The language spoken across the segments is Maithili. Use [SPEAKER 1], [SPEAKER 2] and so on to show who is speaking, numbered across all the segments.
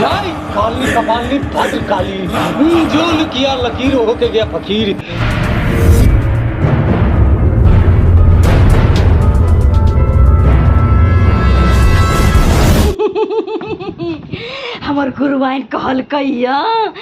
[SPEAKER 1] जाई काली कपाली फट काली हम्म, जो किया लकीर होके गया फकीर हमर गुरुआइन कहलकै यऽ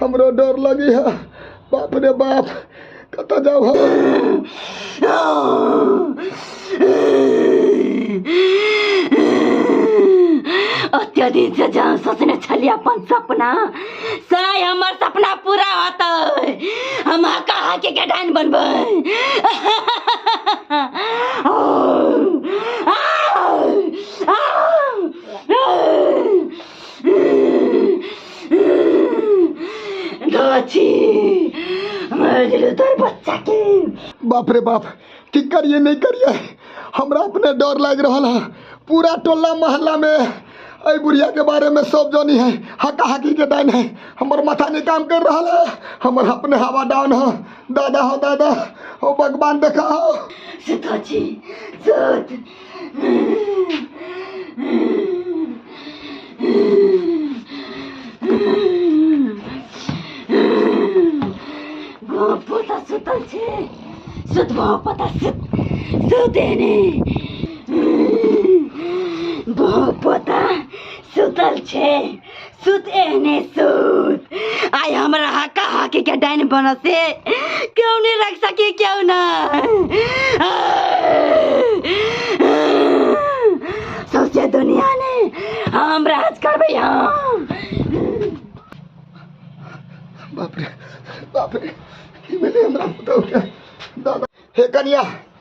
[SPEAKER 1] हमरा डर लगी है बाप रे बाप कतऽ जाब हम ओते दिन से जहाँ सोचने छलियै अपन सपना साय हमर सपना पूरा होतै हम कहा के गडान बनबै गाछी मर गेलो तोर बच्चा के बाप रे बाप की करिए नहीं करिए हमरा अपने डर लाग रहल है पूरा टोला मोहल्ला में अई बुढ़िया के बारे में सब जानी है हका हकी के डाइन है हमर माथा नहीं काम कर रहल है हमर अपने हवा डाउन है दादा हो दादा हो भगवान देखा हो सताची सत पोता सुतल छै सुतबो पोता सुत सुते ने बहु पोता सुतल छै सुत एहने सुत आइ हमरा हका हकी के डाइन बनल से क्यों नहीं रख सके क्यों ना सौसे दुनिया ने हम राज करबे हम बाप रे बाप रे ई भेलै हमरा पुतहु के दादा हे कनिया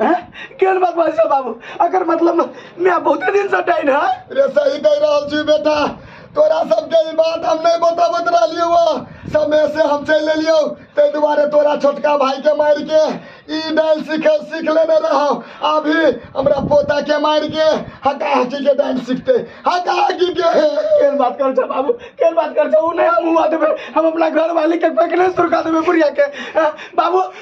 [SPEAKER 1] हैं? केहन बात बाजै छौ बाबू एकर मतलब माय बहुते दिन से डाइन है रे सही कह रहल छी बेटा तोरा सबके ई बात हम नहीं बताबत रहलियो हुआ समय से हम चल एलियो ते दुबारे तोरा छोटका भाई के मार के ई डांस सीख सीख लेने रहो अभी हमरा पोता के मार के हका हकी के डांस सीखते हका हकी के केहन बात कर छौ बाबू केहन बात कर छौ उ नहीं हम हुआ देबे हम अपना घर वाली के पकड़े सुरका देबे बुढ़िया के हैं? बाबू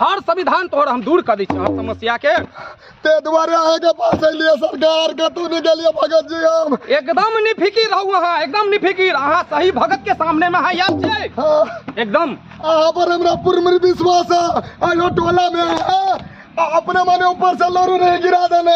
[SPEAKER 1] हर संविधान तोहर हम दूर कर दै छी हर समस्या के ते दुआरे आए के पास अलिए सरकार के तू नहीं गलिए भगत जी हम एकदम नहीं फिकिर रहू अहाँ एकदम नहीं फिकिर अहाँ सही भगत के सामने में अहाँ याद छै हाँ, एकदम अहाँ पर हमरा पूर्ण विश्वास है आयो टोला में हाँ, आ अपने माने ऊपर से लोरू नहीं गिरा देने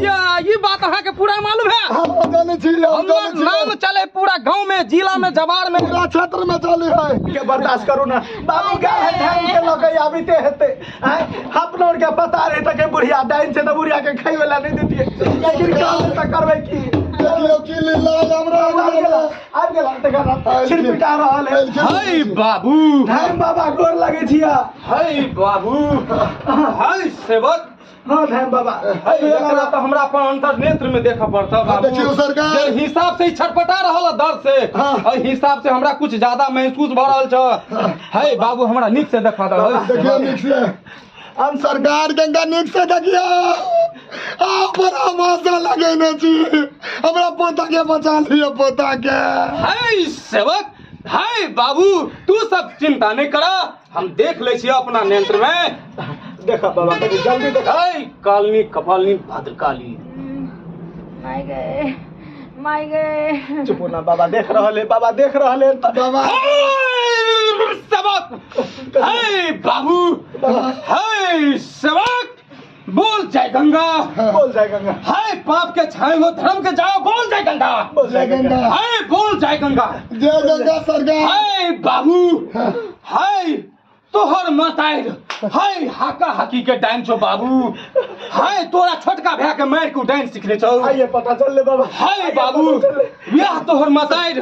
[SPEAKER 1] या ये बात अहाँ के पूरा मालूम है हम जाने छी हम हमर जाने छी नाम चले पूरा गांव में जिला में जवार में पूरा क्षेत्र में चले है के बर्दाश्त करू ना बाबू का है ढंग के लगे आबिते हेते आय अपनो के पता रहे त के बुढ़िया डाइन से त बुढ़िया के खाई वाला नहीं देतिए लेकिन काम त करबे की देखियो की लीला हमरा आबि गेला हमरा आबि गेला त कर सिर पिटा रहल है हाय बाबू धन बाबा गोर लगे छिया हाय बाबू हाय सेवक हाँ धैम बाबा अरे एकरा एकरा तऽ हमरा अपन अंतर नेत्र में देखऽ पड़तऽ हाँ, बाबू देखियौ सरकार। जे हिसाब से ई छटपटा रहल है दर्द से हाँ। एहि हिसाब से हमरा कुछ ज्यादा महसूस भऽ रहल छ है बाबू हमरा नीक से देखा दऽ देखियो नीक से हम सरकार गंगा नीक से देखियो आ पर आवाजा लगेने छी हमरा पोता के बचा लियो पोता के है सेवक है बाबू तू सब चिंता नहीं करा हम देख ले छियै अपना नेत्र में देखा बाबा कनी जल्दी देखा ऐ कालनी कपालनी भद्रकाली माय गए माय गए चुप हो ना बाबा देख रहल है बाबा देख रहल है त- बाबा ऐ सबक ऐ बाबू बाबा ऐ सबक बोल जय गंगा बोल जय गंगा हाय पाप के छाए हो धर्म के जाओ बोल जय गंगा बोल जय गंगा हाय बोल जय गंगा जय गंगा सरकार हाय बाबू हाय तोहर मताइर हाय हाका हाकी के डाइन छो बाबू हाय तोरा छोटका भैया के मार के डाइन सिखले छौ आइए पता चल ले बाबा हाय बाबू बियाह तोहर मताइर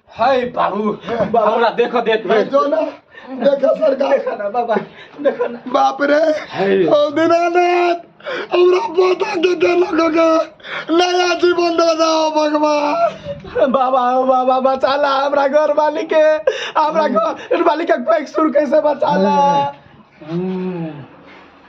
[SPEAKER 1] हाय बाबू हमरा देख देख ए, जो ना देखा सरकार देखा ना बाबा देखा ना बाप रे हाय। ओ दीनानाथ हमरा पोता के दे लोगों के नया जीवन दे जाओ भगवान बाबा ओ बाबा बचा ला हमरा घर वाली के हमरा घर वाली के कोई सुर कैसे बचा ला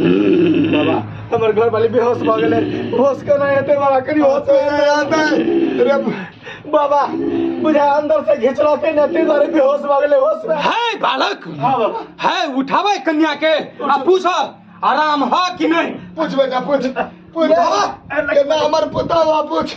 [SPEAKER 1] बाबा हमर घर वाली बेहोश भऽ गेलै होश केना एतै बाबा कनि होश मे रहतै रे बाबा बुझा अंदर से घिचलकै ने ताहि दुआरे बेहोश भऽ गेलै होश मे है बालक हाँ बाबा है उठाबै कन्या के आ पूछ आराम ह कि नहीं पूछ बेटा पूछ पूछ बाबा केना हमर पुता बा पूछ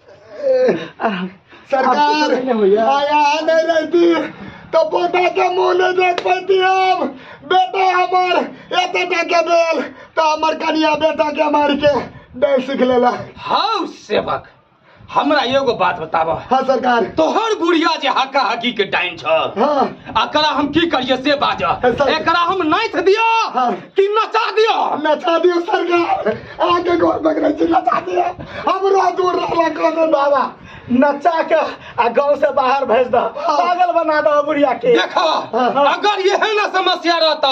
[SPEAKER 1] सरकार आया नहीं रहती तो पोता के मुंह नहीं देख पाती हम बेटा हमार एते के बेल तो हमार कनिया बेटा के मार के डर सीख लेला हाउ सेवक हमरा एगो बात बताबह हाँ सरकार तोहर बुढ़िया जे हका हकी के डाइन छ हाँ एकरा हम की करिए से बाजह ऐसा- एकरा हम नाइथ दियो हाँ। कि नचा दियो नचा दियो सरकार आगे घर पकड़े छी नचा दिए हमरा दूर रहला काने बाबा नचा के आ गांव से बाहर भेज दो पागल बना दो बुढ़िया के देखा अगर यह ना समस्या रहता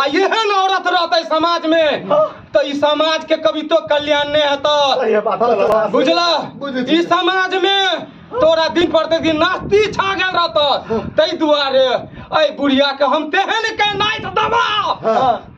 [SPEAKER 1] आ यह ना औरत रहता समाज में तो इस समाज के कभी तो कल्याण नहीं होता सही है बात चलो। बुझला बुझै छी। इस समाज में तोरा दिन प्रतिदिन नास्ती छा गेल रहता तै दुआरे ऐ बुढ़िया के हम तेहन के नाइट दबा हाँ।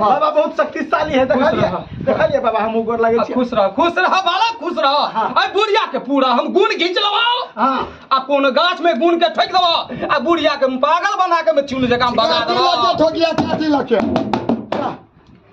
[SPEAKER 1] हाँ। बाबा बहुत शक्तिशाली है खुश देखलिए रह। देखलिए बाबा हम गोर लागे आ, छी खुश रह खुश रह बालक खुश रह हाँ। आ बुढ़िया के पूरा हम गुण घींच लबाओ हां आ कोनो गाछ में गुण के ठोक दबा आ बुढ़िया के पागल बना के में चूल जकां बगा दबा ठोकिया क्या दिला के